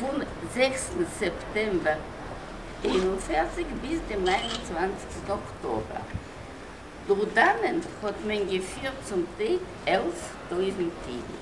פון זעקסטן סעפטעמבער איין און פֿערציק ביז דעם נײַן און צוואַנציקסטן אקטאבער דורכדערנען האט מען געפירט צום טעג עלף טויזנט אידן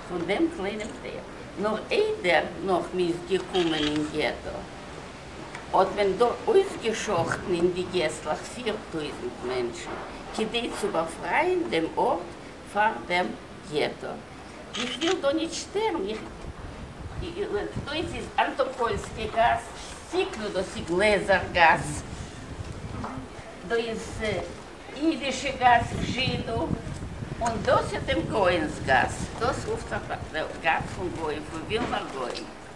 פון דעם קליינעם טייל. נאר איידער נחמן איז געקומען אין געטא האט מען דא אויסגעשאכטן אין די געסלעך פיר טויזנט מענטשן כדי צו באפרייען דעם ארט פאר דעם געטא. איך וויל דא נישט שטערן, איך דאס איז אנטאפוילסקע גאס, סיקלא דאס איז גלעזער גאס, דא איז אידישע גאס, זשידא, און דאס איז דעם גוי'נס גאס, דאס רופט זיך גאס פון גוים, פון ווילנער גוים.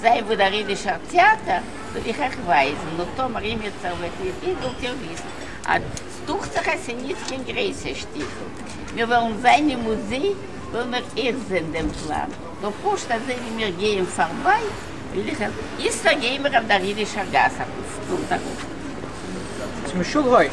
זיי וואו דער אידישער טעאטער וועל איך אייך ווייזן, נו טאמער אימיצער וועט ניט גיין זאלט איר וויסן אט ס דוכט זיך עס איז ניט קיין גרעסע שטיבל, מיר וועלן זיין אין מוזיי וועלן מיר אייך זען דעם פלאן, נאר פשוט אזוי ווי מיר גייען פארביי וועל איך אייך איצטער גייען מיר אויף דער אידישער גאס אויפן סטולט ארויף. צום שול הויף.